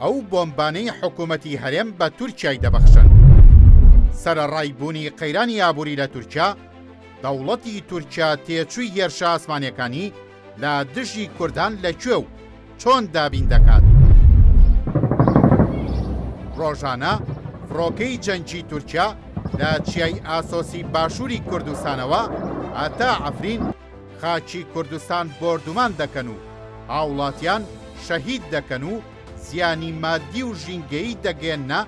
ئەو بۆمبانەی حکوومەتی هەرێم بە تورکای دەبەخشن سەرەڕای بوونی قەیرانی ئابووری لە تورکیا دەوڵەتی تورکیا تێچووی هێرشە ئاسمانەکانی لە دژی کوردان لە کوێ و چۆن دابین دەکات؟ ڕۆژانە فڕۆکەی جەنگی تورکیا لە چیای ئاسۆسی باشووری کوردستانەوە هەتا عەفرین خاکی کوردستان بۆردومان دەکەن و هاوڵاتیان شەهید دەکەن و زیانی مادی و ژینگەیی دەگەیەننە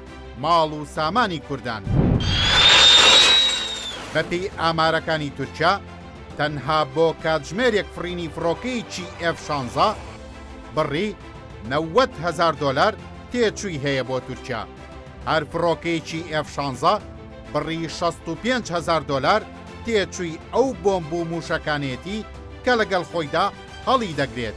ماڵ و سامانی کوردان. بەپێی ئامارەکانی تورکیا، تەنها بۆ کاتژمێرێک فڕینی فڕۆکەیەکی ئێف شانزە بڕی نەوەد هەزار دۆلار تێچووی هەیە بۆ تورکیا، هەر فڕۆکەیەکی ئێف شانزە بڕی شەست و پێنج هەزار دۆلار تێچووی ئەو بۆمب و مووشەکانەیەتی کە لەگەڵ خۆیدا هەڵیدەگرێت.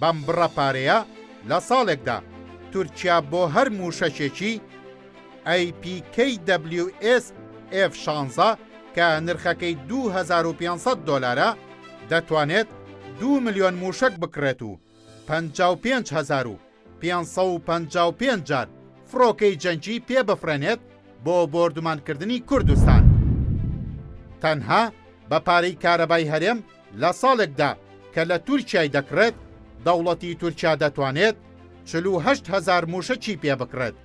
بەم بڕە پارەیە لە ساڵێکدا تورکیا بۆ هەر مووشەکێکی، APKWS F شانزە، کە نرخەکەی دوو هەزار و پێنج سەد دۆلارە، دەتوانێت دوو ملیۆن مووشەک بکڕێت و پەنجا و پێنج هەزار و پێنج سەد و پەنجا و پێنج جار فڕۆکەی جەنگی پێ بفڕێنێت بۆ بۆردومانکردنی کوردستان. تەنها بە پارەی کارەبای هەرێم، لە ساڵێکدا کە لە تورکیای دەکڕێت، دەوڵەتی تورکیا دەتوانێت چل و هەشت هەزار مووشەکی پێ بکڕێت.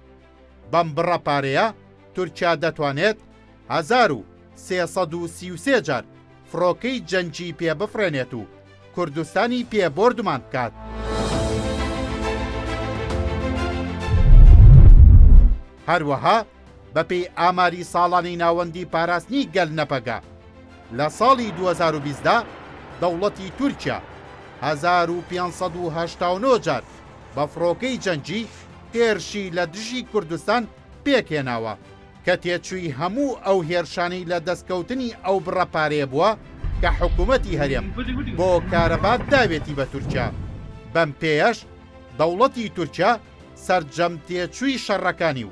بەم بڕە پارەیە تورکیا دەتوانێت هەزار و سێ سەد و سی و سێ جار فڕۆکەی جەنگی پێ بفڕێنێت و کوردستانی پێ بۆردومان بکات. هەروەها بەپێی ئاماری ساڵانەی ناوەندی پاراستنی گەل نەپەگە، لە ساڵی دوو هەزار و بیست دا دەوڵەتی تورکیا هەزار و پێنج سەد و هەشتا و نۆ جار بە فڕۆکەی جەنگی هێرشی لە دژی کوردستان پێکهێناوە، کە تێچووی هەموو ئەو هێرشانەی لە دەستکەوتنی ئەو بڕە پارەیە بووە کە حکوومەتی هەرێم بۆ کارەبا داوێتی بە تورکیا، بەم پێیەش دەوڵەتی تورکیا سەرجەم تێچووی شەڕەکانی و